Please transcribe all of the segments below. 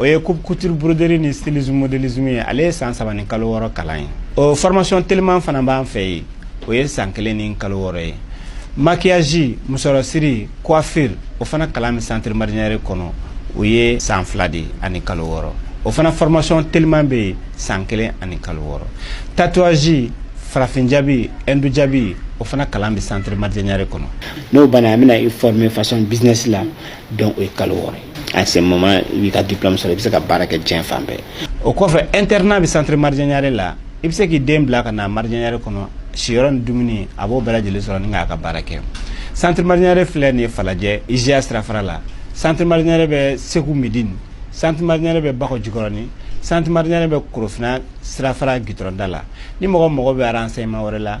o ye coupe couture broderie ni stylisme modélisme ye ale ye san saba ni kalo wɔɔrɔ kalan ye o formation teliman fana b'an fɛ yen o ye san kelen ni kalo wɔɔrɔ ye maquillage musɔrɔsiri coiffure o fana kalan bɛ centre marjanyare kɔnɔ o ye san fila de ani kalo wɔɔrɔ o fana formation teliman bɛ yen san kelen ani kalo wɔɔrɔ tatouage farafin jaabi hindu jaabi o fana kalan bɛ centre marjanyare kɔnɔ n'o banna an bɛna i former façon business la donc o ye kalo wɔɔrɔ ye à ce moment i b'i ka diplôme sɔrɔ i bɛ se ka baara kɛ diɲɛ fan bɛɛ o kɔfɛ internat bɛ centre marjanyare la i bɛ se k'i den bila ka na marjanyare kɔnɔ siyɔrɔ ni dumuni a b'o bɛɛ lajɛlen sɔrɔ ni k'a ka baara kɛ centre marjanyare filɛ nin ye falajɛ IJA sirafara la centre marjanyare bɛ segu midini centre marjanyare bɛ bakɔ jikɔrɔni centre marjanyare bɛ korofina sirafara gitɔrɔnda la ni mɔgɔ mago bɛ renseignement wɛrɛ la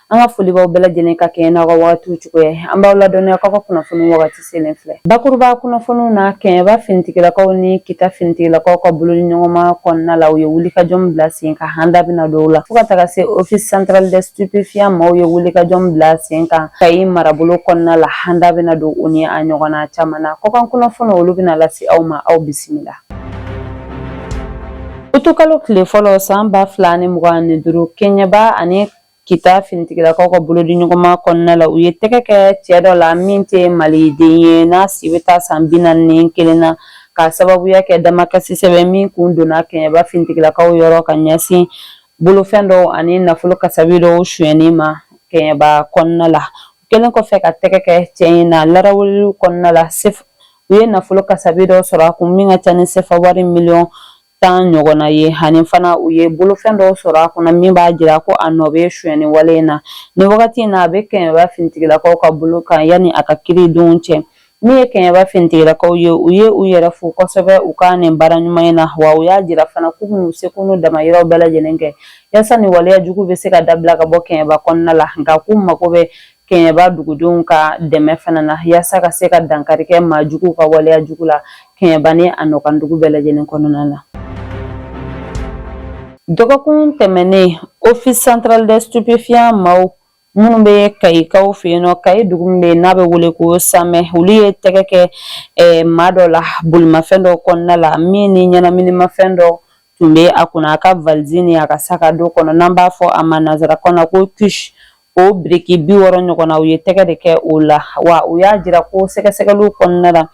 An ka foli b'aw bɛɛ lajɛlen ka kɛɲɛ n'aw ka wagatiw cogoya ye. An b'aw ladɔnniya k'aw ka kunnafoni wagati selen filɛ. Bakuruba kunnafoniw na, kɛɲɛba finitigilakaw ni kita finitigilakaw ka bolo di ɲɔgɔnma kɔnɔna la, u ye wulikajɔ min bila sen kan, an da bɛna don o la. Fo ka taga se Office central des stupéfiants maaw ye wulikajɔ min bila sen kan Kayi marabolo kɔnɔna la, an da bɛna don o ni a ɲɔgɔnna caman na. Kɔkan kunnafoniw, olu bɛna lase aw ma, aw bisimila. Utukalo tile fɔlɔ san ba fila ani mugan ni duuru, kɛɲɛba ani Kita finitigilakaw ka bolo di ɲɔgɔnma kɔnɔna la u ye tɛgɛ kɛ cɛ dɔ la min tɛ maliden ye n'a si bɛ taa san bi naani ni kelen na ka sababuya kɛ damakasi sɛbɛn min kun donna kɛɲɛba finitigilakaw yɔrɔ ka ɲɛsin bolofɛn dɔw ani nafolo kasabi dɔw sonyani ma kɛɲɛba kɔnɔna la kɛlen kɔfɛ ka tɛgɛ kɛ cɛ in na larawuw kɔnɔna la u ye nafolo kasabi dɔw sɔrɔ a kun min ka ca ni sefa wari miliyɔn tan ɲɔgɔnna ye ani fana u ye bolofɛn dɔw sɔrɔ a kunna min b'a jira ko a nɔ bɛ sonyani wale in na nin wagati in na a bɛ kɛɲɛba finitigilakaw ka bolo kan yanni a ka kiri don cɛ min ye kɛɲɛba finitigilakaw ye u ye u yɛrɛ fo kosɛbɛ u ka nin baara ɲuman in na wa u y'a jira fana k'u bɛn'u seko n'u damayiraw bɛɛ lajɛlen kɛ yasa nin waleya jugu bɛ se ka dabila ka bɔ kɛɲɛba kɔnɔna la nka k'u mago bɛ kɛɲɛba dugudenw ka dɛmɛ fana na yaasa ka se ka dankari kɛ maa juguw ka waleya jugu la kɛɲɛba ni a nɔkandugu bɛɛ lajɛlen kɔnɔna la dɔgɔkun tɛmɛnen office central des stupéfiants maaw minnu bɛ kayikaw fɛ yen nɔ kayi dugu min bɛ yen n'a bɛ wele ko samɛ olu ye tɛgɛ kɛ eh, maa dɔ la bolimafɛn dɔ kɔnɔna la min ni ɲɛnaminimafɛn dɔ tun bɛ a kunna a ka valizi ni a ka sac à dos kɔnɔ n'an b'a fɔ a ma nanzarakan na ko kush o biriki bi wɔɔrɔ ɲɔgɔnna u ye tɛgɛ de kɛ o la wa u y'a jira ko sɛgɛsɛgɛliw kɔnɔna la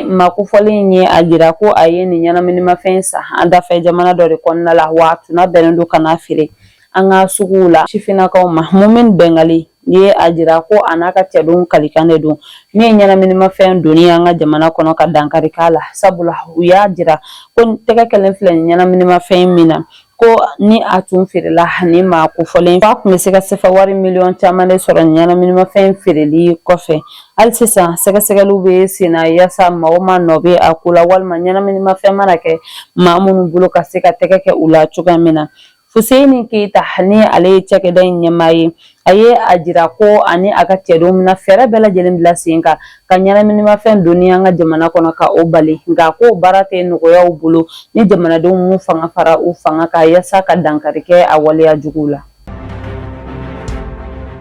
maa kofɔlen in ye a jira ko a ye nin ɲɛnaminimafɛn san an dafɛ jamana dɔ de kɔnɔna la wa a tun nabɛnnen don ka n'a feere an ka suguw la sifinnakaw ma mumin bɛngali ye a jira ko a n'a ka cɛdenw kalikan de don min ye ɲɛnaminimafɛn donni an ka jamana kɔnɔ ka dankari k'a la sabula u y'a jira ko tɛgɛ kɛlen filɛ nin ɲɛnaminimafɛn min na ko ni a tun feerela ani maa kofɔlen f'a tun bɛ se ka sefa wari miliyɔn caman de sɔrɔ ɲɛnaminimafɛn feereli kɔfɛ hali sisan sɛgɛsɛgɛliw bɛ sen na yaasa maa o maa nɔ bɛ a ko la walima ɲɛnaminimafɛn mana kɛ maa minnu bolo ka se ka tɛgɛ kɛ u la cogoya min na Fuseyini Keyita ni ale ye cakɛda in ɲɛmaa ye A ye a jira ko a ni a ka cɛdenw bɛna fɛɛrɛ bɛɛ lajɛlen bila sen kan ka ɲɛnaminimafɛn donni an ka jamana kɔnɔ ka o bali nka ko baara tɛ nɔgɔya u bolo ni jamanadenw m'u fanga fara u fanga kan yasa ka dankari kɛ a waleya jugu la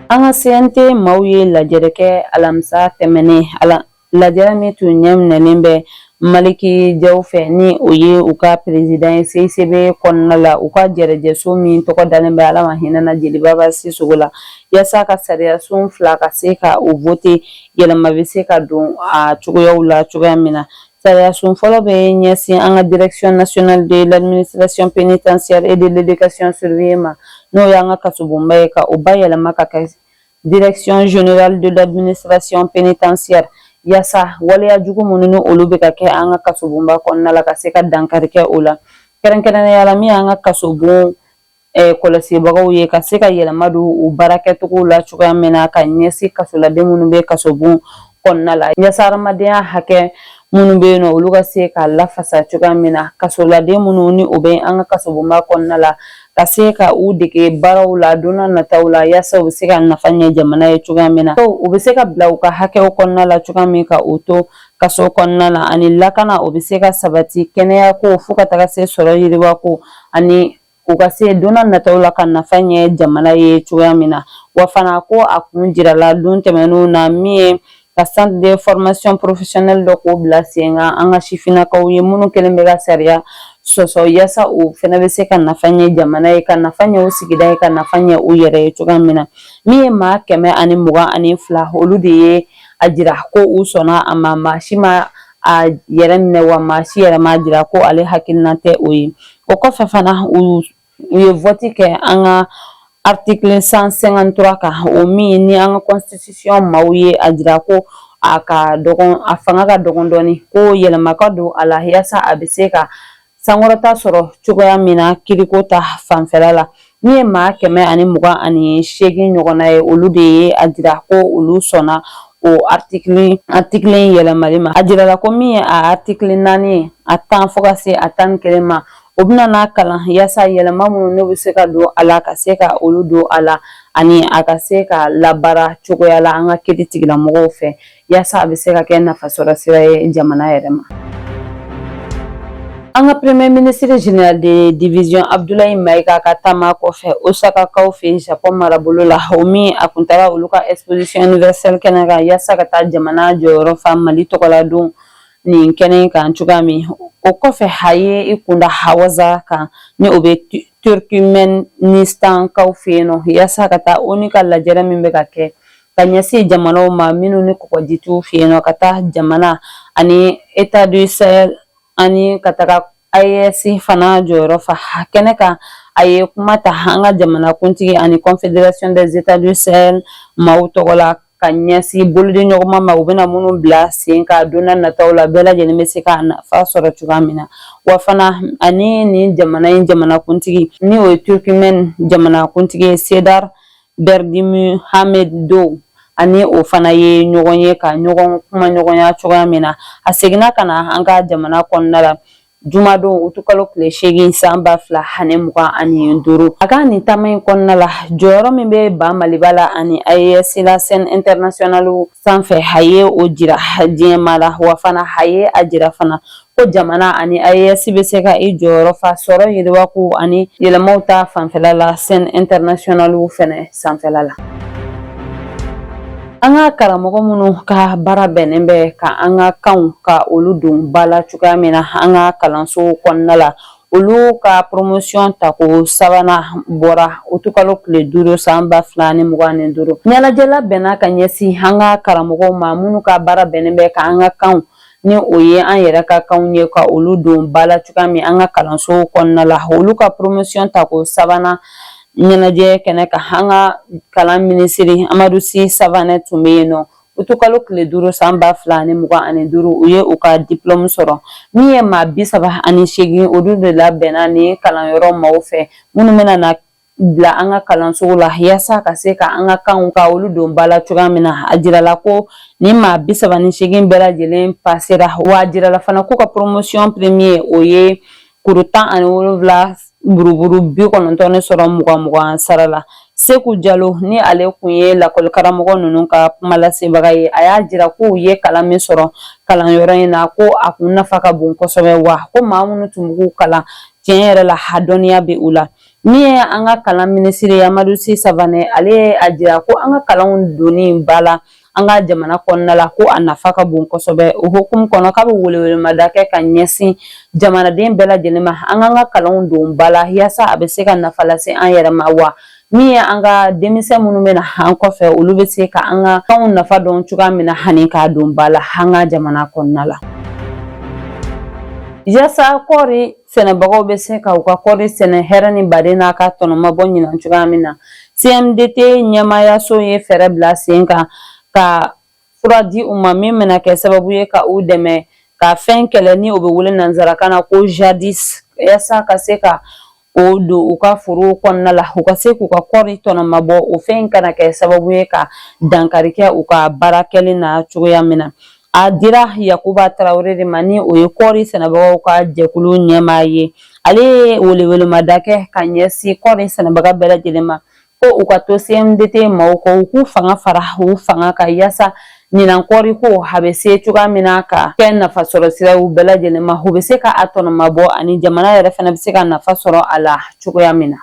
an ka CNT maaw ye lajɛrɛ kɛ alamisa tɛmɛnen a la Lajɛrɛ min tun ɲɛminɛnen bɛ maliki jaw fɛ ni o ye u ka peresidan ye CICB kɔnɔna la u ka jɛrɛjɛso min tɔgɔ dalen bɛ ala ma hinɛ a na Jeli Baba Sisɔkɔ la yaasa ka sariyasun fila ka se ka u vote yɛlɛma bɛ se ka don a cogoyaw la cogoya min na sariyasun fɔlɔ bɛ ɲɛsin an ka direction nationale de l'administration pénitentiaire et de l'éducation surveillée ma n'o y'an ka kasobonba ye ka o bayɛlɛma ka kɛ Direction générale de l'administration pénitentiaire yasa waleya jugu minnu ni olu bɛ ka kɛ an ka kasobonba kɔnɔna la ka se ka dankari kɛ o la kɛrɛnkɛrɛnnenya la min y'an ka kasobon eh, kɔlɔsibagaw ye ka se ka yɛlɛma don u baara kɛcogo la cogoya min na ka ɲɛsin kasoladen minnu bɛ kasobon kɔnɔna la yaasa hadamadenya hakɛ minnu bɛ yen nɔ olu ka se ka lafasa cogoya min na kasoladen minnu ni u bɛ an ka kasobonba kɔnɔna la ka se ka u dege baaraw la don nataw la yaasa u bɛ se ka nafa ɲɛ jamana ye cogoya min na u bɛ se ka bila u ka hakɛw kɔnɔna la cogoya min ka u to kaso kɔnɔna la ani lakana o bɛ se ka sabati kɛnɛya ko fo ka taga se sɔrɔ yiriwa ko ani U ka se don nataw la ka nafa ɲɛ jamana ye cogoya min na wa fana ko a kun jirala don tɛmɛnenw na min ye ka centre de formation professionnelle dɔ k'o bila sen kan an ka sifinnakaw ye minnu kɛlen bɛ ka sariya sɔsɔ yaasa u fɛnɛ bɛ se ka nafa ɲɛ jamana ye ka nafa ɲɛ u sigida ye ka nafa ɲɛ u yɛrɛ ye cogoya min na min ye maa kɛmɛ ani mugan ani fila olu de ye a jira ko u sɔnna a ma maa si ma a yɛrɛ minɛ wa maa si yɛrɛ m'a jira ko ale hakilina tɛ o ye O kɔfɛ fana u ye vɔti kɛ an ka article cent cinquante-trois kan o min ni an ka kɔnsitisiyɔn maaw ye a jira ko a ka dɔgɔn a fanga ka dɔgɔn dɔɔni ko yɛlɛma ka don a la yaasa a bɛ se ka sankɔrɔta sɔrɔ cogoya min na kiriko ta fanfɛla la Min ye maa kɛmɛ ani mugan ani seegin ɲɔgɔnna ye olu de ye a jira ko olu sɔnna o atikili atikili in yɛlɛmali ma a jirala ko min ye a atikili naani ye a tan fo ka se a tan ni kelen ma o bɛna na kalan yaasa yɛlɛma minnu n'o bɛ se ka don a la ka se ka olu don a la ani a ka se ka labaara cogoya la an ka kiiritigɛlamɔgɔw fɛ yaasa a bɛ se ka kɛ nafasɔrɔ sira ye jamana yɛrɛ ma an ka premier ministre general de division abdulayi mayiga ka taama kɔfɛ osakakaw fɛ japon marabolo la o min a kun taara olu ka exposition universelle kɛnɛ kan yaasa ka taa jamana jɔyɔrɔ fa mali tɔgɔladon nin kɛnɛ in kan cogoya min o kɔfɛ a ye i kunda awaza kan ni o bɛ turkmɛnistankaw fɛ yen nɔ yaasa ka taa ONU ka lajɛrɛ min bɛ ka kɛ ka ɲɛsin jamanaw ma minnu ni kɔgɔji t'u fɛ yen nɔ ka taa jamana ani états du sahel ani ka taga AES fana jɔyɔrɔ fa kɛnɛ kan a ye kuma ta an ka jamanakuntigi ani confederation des états du sahel maaw tɔgɔ la ka ɲɛsin bolodiɲɔgɔnma ma u bɛna minnu bila sen kan don nataw la bɛɛ lajɛlen bɛ se k'a nafa sɔrɔ cogoya min na wa fana ani nin jamana in jamanakuntigi ni o ye turkimɛn jamanakuntigi ye serdar Berdimuhamedow ani o fana ye ɲɔgɔn ye ka ɲɔgɔn kumaɲɔgɔnya cogoya min na a seginna ka na an ka jamana kɔnɔna la jumadon utukalo tile seegin san ba fila ani mugan ani duuru a ka nin taama in kɔnɔna la jɔyɔrɔ min bɛ ba maliba la ani AES la scène internationale sanfɛ a ye o jira diɲɛmaa la wa fana a ye a jira fana ko jamana ani AES bɛ se ka i jɔyɔrɔ fa sɔrɔ yiriwa ko ani yɛlɛmaw ta fanfɛla la scène internationale fɛnɛ sanfɛla la. An ka karamɔgɔ minnu ka baara bɛnnen bɛ ka an ka kanw ka olu don ba la cogoya min na an ka kalansow kɔnɔna la olu ka promotion tako sabanan bɔra utukalo tile duuru san ba fila ni mugan ni duuru ɲɛnajɛ labɛnna ka ɲɛsin an ka karamɔgɔw ma minnu ka baara bɛnnen bɛ ka an ka kanw ni o ye an yɛrɛ ka kanw ye ka olu don ba la cogoya min an ka kalansow kɔnɔna la olu ka poromosiyɔn tako sabanan ɲɛnajɛ kɛnɛ kan an ka kalan minisiri amadu si savanɛ tun bɛ yen nɔ utukalo tile duuru san ba fila ani mugan ani duuru u ye u ka dipulɔmu sɔrɔ min ye maa bi saba ani seegin olu de labɛnna nin kalanyɔrɔ maaw fɛ minnu bɛna na bila an ka kalansow la yaasa ka se ka an ka kanw ka olu don ba la cogoya min na a jirala ko nin maa bi saba ni seegin bɛɛ lajɛlen pasera wa a jirala fana k'u ka poromosiyɔn premier o ye kuru tan ani wolonwula buruburu bi kɔnɔntɔn ne sɔrɔ mugan sara la seku jalo ni ale kun ye lakɔli karamɔgɔ ninnu ka kuma lasebaga ye a y'a jira k'u ye kalan min sɔrɔ kalanyɔrɔ in na ko a kun nafa ka bon kosɛbɛ wa ko maa minnu tun b'u kalan tiɲɛ yɛrɛ la a dɔnniya bɛ u la Min ye an ka kalan minisiri Amadu Si Savanɛ ale ye a jira ko an ka kalanw donni ba la an ka jamana kɔnɔna la ko a nafa ka bon kosɛbɛ o hukumu kɔnɔ k'a bɛ welewelemada kɛ ka ɲɛsin jamanaden bɛɛ lajɛlen ma an k'an ka kalanw don ba la yaasa a bɛ se ka nafa lase an yɛrɛ ma wa min ye an ka denmisɛn minnu bɛ na an kɔfɛ olu bɛ se ka an ka kanw nafa dɔn cogoya min na ani k'a don ba la an ka jamana kɔnɔna la yaasa kɔɔri sɛnɛbagaw bɛ se ka u ka kɔɔri sɛnɛ hɛrɛ ni baden na k'a tɔnɔmabɔ ɲinan cogoya min na cmdt ɲɛmaayaso ye fɛɛrɛ bila sen kan ka fura di u ma min bɛna kɛ sababu ye ka u dɛmɛ ka fɛn kɛlɛ ni o bɛ wele nansarakan na ko jadis yaasa ka se ka o don u ka foro kɔnɔna la u ka se k'u ka kɔɔri tɔnɔmabɔ o fɛn kana kɛ sababu ye ka dankari kɛ u ka baara kɛlen na cogoya min na A dira Yakuba Tarawele de ma ni o ye kɔɔri sɛnɛbagaw ka jɛkulu ɲɛmaa ye ale ye welewelemada kɛ ka ɲɛsin kɔɔri sɛnɛbaga bɛɛ lajɛlen ma ko u ka to cmdt maaw kɔ u k'u fanga fara u fanga kan yaasa ɲinan kɔɔri ko a bɛ se cogoya min na ka kɛ nafa sɔrɔ sira u bɛɛ lajɛlen ma u bɛ se ka a tɔnɔmabɔ ani jamana yɛrɛ fana bɛ se ka nafa sɔrɔ a la cogoya min na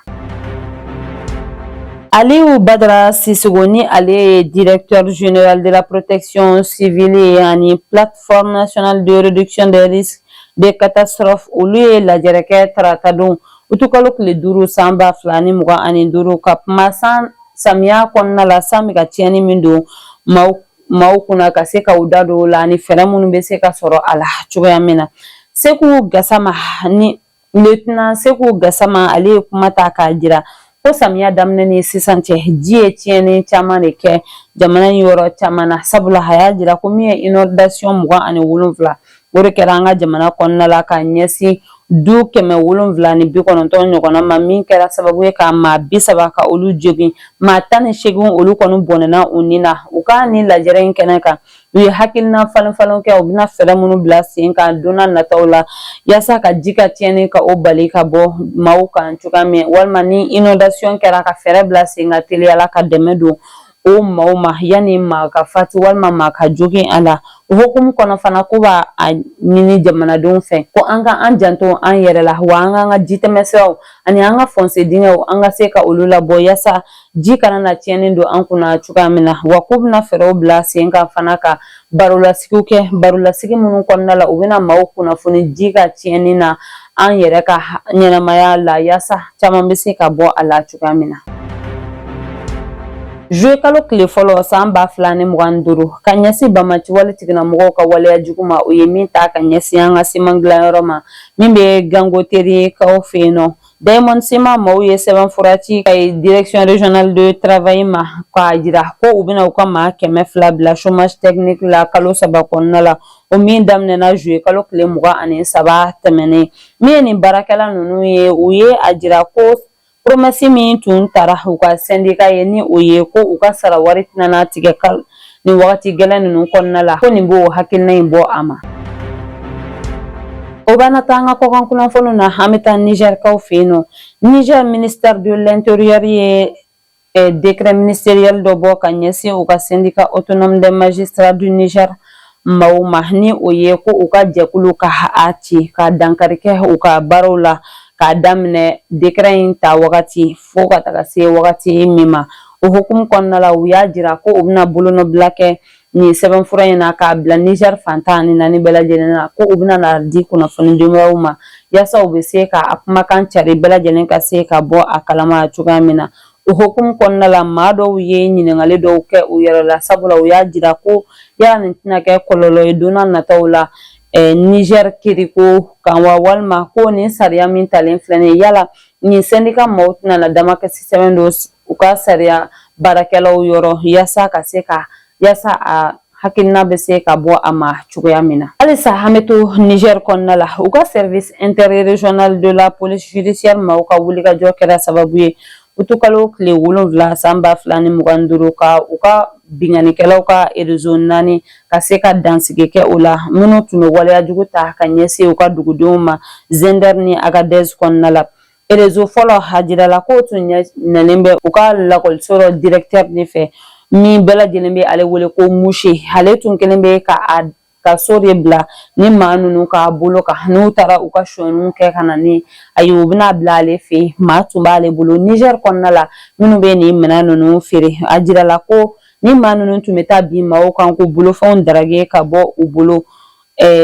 Aliou Badra Sissoko ni ale ye directeur général de la protection civile ye ani plateforme nationale de réduction des risques de catastrophe olu ye lajɛrɛ kɛ tarata don utukalo tile duuru san ba fila ni mugan ani duuru ka kuma san samiya kɔnɔna la san bɛ ka tiɲɛni min don maaw kunna ka se ka u da don o la ani fɛɛrɛ minnu bɛ se ka sɔrɔ a la cogoya min na Seku Gasama ni Lieutenant Seku Gasama ale ye kuma ta k'a jira ko samiya daminɛ ni sisan cɛ ji ye tiɲɛni caman de kɛ jamana in yɔrɔ caman na sabula a y'a jira ko min ye inondation mugan ani wolonwula o de kɛra an ka jamana kɔnɔna la ka ɲɛsin du kɛmɛ wolonwula ni bi kɔnɔntɔn ɲɔgɔnna ma min kɛra sababu ye ka maa bi saba ka olu jogin maa tan ni seegin olu kɔni bɔnɛna u ni na u ka nin lajɛrɛ in kɛnɛ kan u ye hakilina falen falen kɛ u bɛna fɛɛrɛ minnu bila sen kan don na nataw la yaasa ka ji ka tiɲɛni ka o bali ka bɔ maaw kan cogoya min walima ni inondation kɛra ka fɛɛrɛ bila sen kan teliyala ka dɛmɛ don o maaw ma yanni maa ka fatu walima maa ka jogin a la o hukumu kɔnɔ fana k'u b'a ɲini jamanadenw fɛ ko an ka an janto an yɛrɛ la wa an k'an ka jitɛmɛsiraw ani an ka fose dingɛw an ka se ka olu labɔ yaasa ji kana na tiɲɛni don an kunna cogoya min na wa k'u bɛna fɛɛrɛw bila sen kan fana ka barolasigiw kɛ barolasigi minnu kɔnɔna la u bɛna maaw kunnafoni ji ka tiɲɛni na an yɛrɛ ka ɲɛnamaya la yaasa caman bɛ se ka bɔ a la cogoya min na Juillet kalo tile fɔlɔ san ba fila ni mugan ni duuru ka ɲɛsin banbaanci wale tigilamɔgɔw ka waleya jugu ma u ye min ta ka ɲɛsin an ka siman dilanyɔrɔ ma min bɛ Gangoterikaw fɛ yen nɔ Diamond Ciment maaw ye sɛbɛn fura ci Kayes Direction Régionale de Travail ma k'a jira ko u bɛna u ka maa kɛmɛ fila bila chômage technique la kalo saba kɔnɔna la o min daminɛna juillet kalo tile mugan ani saba tɛmɛnen min ye nin baarakɛla ninnu ye u ye a jira ko promɛsi min tun tara u ka sɛndika ye ni o ye ko u ka sara wari tɛna tigɛ nin wagati gɛlɛn ninnu kɔnɔna la ko nin b'o hakilina in bɔ a ma o b'an taa an ka kɔkan kunnafoniw na an bɛ taa nizɛrikaw fɛ yen nɔ nizɛr ministère de l'intérieur ye eh, décret ministériel dɔ bɔ ka ɲɛsin u ka syndicat autonome des magistrats du Niger maaw ma ni o ye ko u ka jɛkulu ka a ci ka dankari kɛ u ka baaraw la k'a daminɛ décret in ta wagati fo ka taga se wagati min ma o hukumu kɔnɔna la u y'a jira ko u bɛna bolonɔbila kɛ nin sɛbɛnfura in na k'a bila nizɛr fan tan ani naani bɛɛ lajɛlen na ko u bɛna n'a di kunnafoni dibaaw ma yaasa u bɛ se ka a kumakan cari bɛɛ lajɛlen ka se ka bɔ a kalama cogoya min na o hukumu kɔnɔna la maa dɔw ye ɲininkali dɔw kɛ u yɛrɛ la sabula u y'a jira ko yala nin tɛna kɛ kɔlɔlɔ ye don nataw la nizɛri kiriko kan wa walima ko nin sariya min talen filɛ nin ye yala nin sɛndika maaw tɛna na damakasi sɛbɛn don u ka sariya baarakɛlaw yɔrɔ yaasa ka se ka yaasa a hakilina bɛ se ka bɔ a ma cogoya min na halisa an bɛ to Niger kɔnɔna la u ka service interrégional de la police judiciaire maaw ka wulikajɔ kɛra sababu ye utukalo tile wolonwula san ba fila ni mugan ni duuru ka u ka binkannikɛlaw ka erezo naani ka se ka dansigi kɛ o la minnu tun bɛ waleya jugu ta ka ɲɛsin u ka dugudenw ma Zinder ni Agadez kɔnɔna la erezo fɔlɔ a jirala k'o tun ɲɛnalen bɛ u ka lakɔliso dɔ dirɛkitɛri de fɛ min bɛɛ lajɛlen bɛ ale wele ko Mouché ale tun kɛlen bɛ ka a ka so de bila nin maa ninnu ka bolo kan n'u taara u ka sonyɛniw kɛ ka na ni a ye u bɛ n'a bila ale fɛ yen maa tun b'ale bolo nizɛri kɔnɔna la minnu bɛ nin minɛn ninnu feere a jirala ko nin maa ninnu tun bɛ taa bin maaw kan k'u bolofɛnw darage ka bɔ u bolo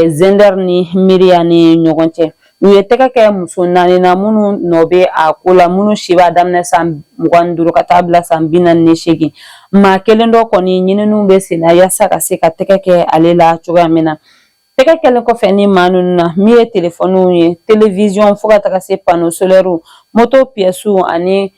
Zinder ni Mirriah ni ɲɔgɔn cɛ u ye tɛgɛ kɛ muso naani na minnu nɔ bɛ a ko la minnu si b'a daminɛ san mugan ni duuru ka taa bila san bi naani ni seegin maa kelen dɔ kɔni ɲininiw bɛ sen na yaasa ka se ka tɛgɛ kɛ ale la cogoya min na Tɛgɛ kɛlen kɔfɛ nin maa ninnu na min ye telefɔniw ye telewiziyɔn fo ka taga se pano solɛriw moto piyɛsiw ani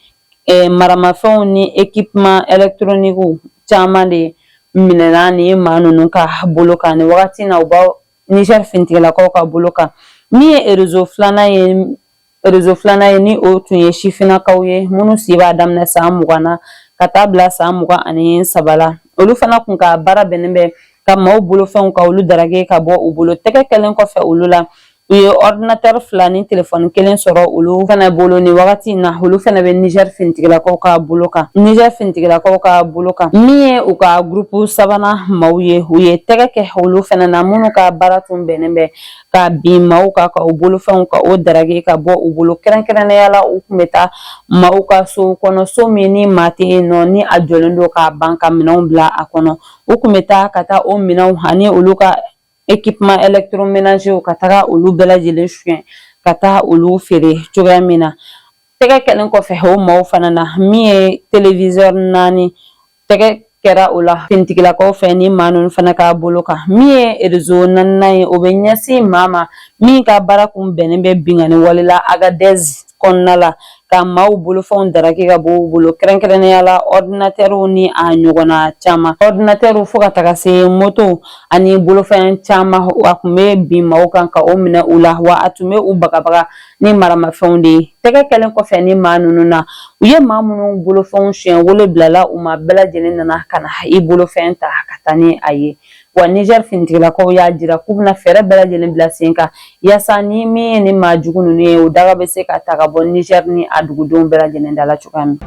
eh, maramafɛnw ni ekipman ɛlɛktoronikiw caman de minɛna nin maa ninnu ka bolo kan nin wagati na u b'a nizɛri finitigilakaw ka bolo kan min ye erezo filanan ye rezo filanan ye ni o tun ye sifinnakaw ye minnu si b'a daminɛ san mugan na ka taa bila san mugan ani saba la olu fana kun ka baara bɛnnen bɛ ka maaw bolofɛnw ka olu darage ka bɔ u bolo tɛgɛ kɛlen kɔfɛ olu la u ye ordinatɛri fila ni telefɔni kelen sɔrɔ olu fana bolo ni wagati in na olu fana bɛ nizɛri finitigilakaw ka bolo kan nizɛri finitigilakaw ka bolo kan min ye u ka gurupu sabanan maaw ye u ye tɛgɛ kɛ olu fana na minnu ka baara tun bɛnnen bɛ ka bin maaw kan ka u bolofɛnw ka o darage ka bɔ u bolo kɛrɛnkɛrɛnnenya la u kun bɛ taa maaw ka so kɔnɔ so min ni maa tɛ yen nɔ ni a jɔlen don k'a ban ka minɛnw bila a kɔnɔ u kun bɛ taa ka taa o minɛnw ani olu ka ekipman ɛlɛkitoromenazew ka taga olu bɛɛ lajɛlen suɲɛ ka taa olu feere cogoya min na tɛgɛ kɛlen kɔfɛ o maaw fana na min ye telewizɛri naani tɛgɛ kɛra o la finitigilakaw fɛ ni maa ninnu fana ka bolo kan min ye rezo naaninan ye o bɛ ɲɛsin maa ma min ka baara kun bɛnnen bɛ binkanni wale la agadɛzi kɔnɔna la ka maaw bolofɛnw daraki ka bɔ u bolo kɛrɛnkɛrɛnnenya la ɔdinatɛriw ni a ɲɔgɔnna caman ɔdinatɛriw fo ka taga se moto ani bolofɛn caman a tun bɛ bin maaw kan ka o minɛ u la wa a tun bɛ u bagabaga ni maramafɛnw de ye tɛgɛ kɛlen kɔfɛ ni maa ninnu na u ye maa minnu bolofɛnw suɲɛ wele bilala u ma bɛɛ lajɛlen nana ka na i bolofɛn ta ka taa ni a ye wa nizɛri finitigilakaw y'a jira k'u bɛna fɛɛrɛ bɛɛ lajɛlen bila sen kan yaasa ni min ye ni maa jugu ninnu ye o daga bɛ se ka ta ka bɔ nizɛri ni a dugudenw bɛɛ lajɛlen dala cogoya min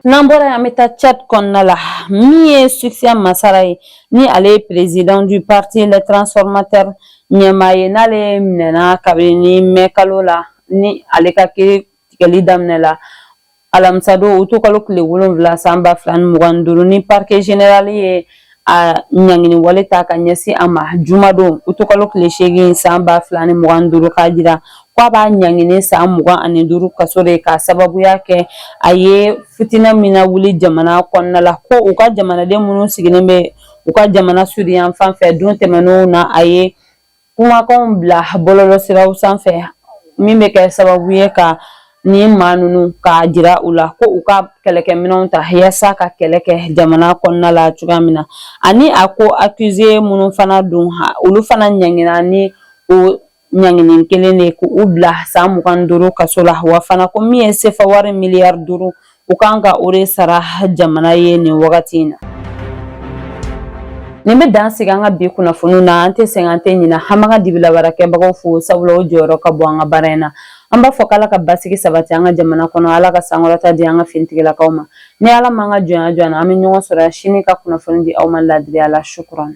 n'an bɔra yan an bɛ taa tchad kɔnɔna la min ye succès masra ye ni ale ye président du parti les transformateurs ɲɛmaa ye n'ale minɛna kabini ni mɛ kalo la ni ale ka kiiri tigɛli daminɛ la alamisa don uti kalo tile wolonwula san ba fila ni mugan ni duuru ni parike zenerali ye a ɲangini wale ta ka ɲɛsin a ma jumadon uti kalo tile seegin san ba fila ni mugan duuru k'a jira k'a b'a ɲangini san mugan ani duuru kaso de ka sababuya kɛ a ye fitinɛ min nawuli jamana kɔnɔna la ko u ka jamanaden minnu sigilen bɛ u ka jamana sudi yanfan fɛ don tɛmɛnenw na a ye kumakanw bila bɔlɔlɔ siraw sanfɛ min bɛ kɛ sababu ye ka ni maa ninnu k'a jira u la ko u ka kɛlɛkɛminɛnw ta yaasa ka kɛlɛ kɛ jamana kɔnɔna la cogoya min na ani a koakize minnu fana don olu fana ɲangina ni o ɲangini kelen de ko u bila san mugan duuru kaso la wa fana ko min ye sefa wari miliyari duuru u kan ka o de sara jamana ye nin wagati in na nin bɛ dan sigi an ka bi kunnafoniw na an tɛ sɛgɛn an tɛ ɲina an b'an ka dibilabaarakɛbagaw fo sabula o jɔyɔrɔ ka bon an ka baara in na an b'a fɔ k'ala ka basigi sabati an ka jamana kɔnɔ ala ka sankɔrɔta di an ka finitigilakaw ma ni ala m'an ka jɔnya jɔ an na an bɛ ɲɔgɔn sɔrɔ yan sini ka kunnafoni di aw ma laadiriya la sukuran